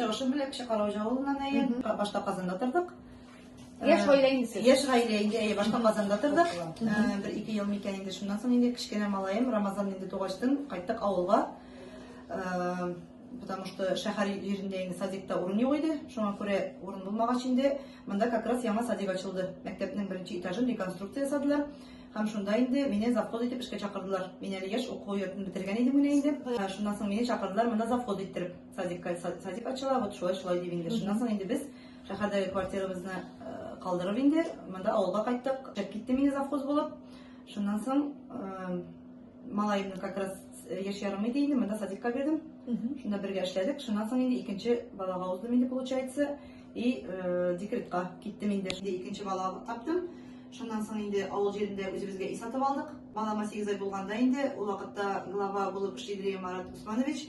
Чыгышы бүләк Чыкараучы авылыннан әйе. Башта Казанда тордык. Яшь гаилә инде сез. Яшь гаилә инде әйе, башта Казанда тордык. Э, Бер ике ел микән инде шуннан соң инде кечкенә малаем Рамазан инде тугачтын кайттык авылга. Э, Потому что шәһәр җирендә инде садикта урын юк иде. Шуңа күрә урын булмагач инде монда как раз яңа садик ачылды. Мәктәпнең беренче этажын реконструкция ясадылар. Һәм шунда инде мине завхоз итеп эшкә чакырдылар. Мин әле яшь уку йортын бетергән идем менә инде. Э, Шуннан соң мине чакырдылар монда завхоз иттереп. Садикка садик ачыла, вот шулай шулай дип инде. Шуннан соң инде без шәһәрдәге квартирабызны э, калдырып инде монда авылга кайттык. Чыгып китте мине завхоз булып. Шуннан соң э, малаемны как раз э, яшь ярым иде инде, монда садикка бирдем. Шунда бергә эшләдек. Шуннан соң инде икенче балага уздым инде получается. И декретка киттем инде. Икенче бала таптым. Шуннан соң инде авыл җирендә үзебезгә үй сатып алдык. Балама 8 ай булганда инде, ул вакытта глава булып эшли Марат Усманович.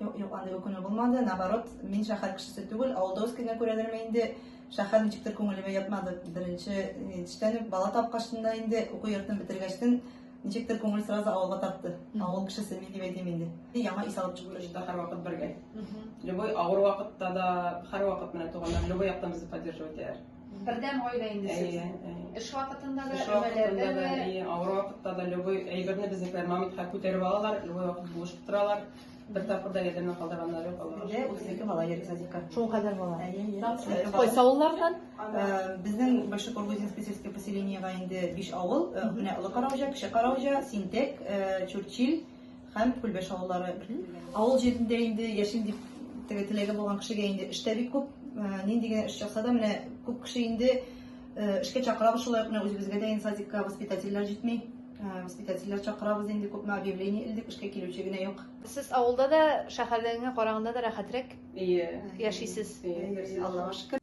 Юк, юк, андый үкенү булмады. Наоборот, мин шәһәр кешесе түгел, авылда үскәнгә күрәдерме инде, шәһәр ничектер күңелемә ятмады. Беренче җитештән үк бала тапкачында инде уку йортын бетергәчтен ничектер күңел сразу авылга тартты. Авыл кешесе мин дип әйтим инде. Яңа ис алып чыгу өчен һәр вакыт бергә. Любой авыр вакытта да, һәр вакыт менә туганнар любой яктан безне поддерживать итәләр. Бердәм гаилә инде сез. Эш вакытында да, өмәләрдә дә. Авыр вакытта да любой әйберне безнекеләр мамонтка күтәреп алалар, любой вакыт булышып торалар. Бер тапкыр да ярдәмнән калдырганнар юк алар. Дә 32 бала йөри садикка. Шул кадәр бала. Кайсы авыллардан? Безнең Большой Кургузинский сельское поселениега инде 5 авыл, менә Олы Караужа, Кече Караужа, Синтек, Чурчил һәм Күлбәш авыллары. Авыл җирендә инде яшим дип теге теләге булган кешегә инде эш тә бик күп. Нинди генә эш чыкса да, менә күп кеше инде Эшкә чакырабыз, шулай ук менә үзебезгә дә садикка воспитательләр җитми. Воспитательләр чакырабыз инде, күпме объявление илдек, эшкә килүче генә юк. Сез авылда да, шәһәрдәгеңә караганда да рәхәтрәк яшисез. Аллага шөкер.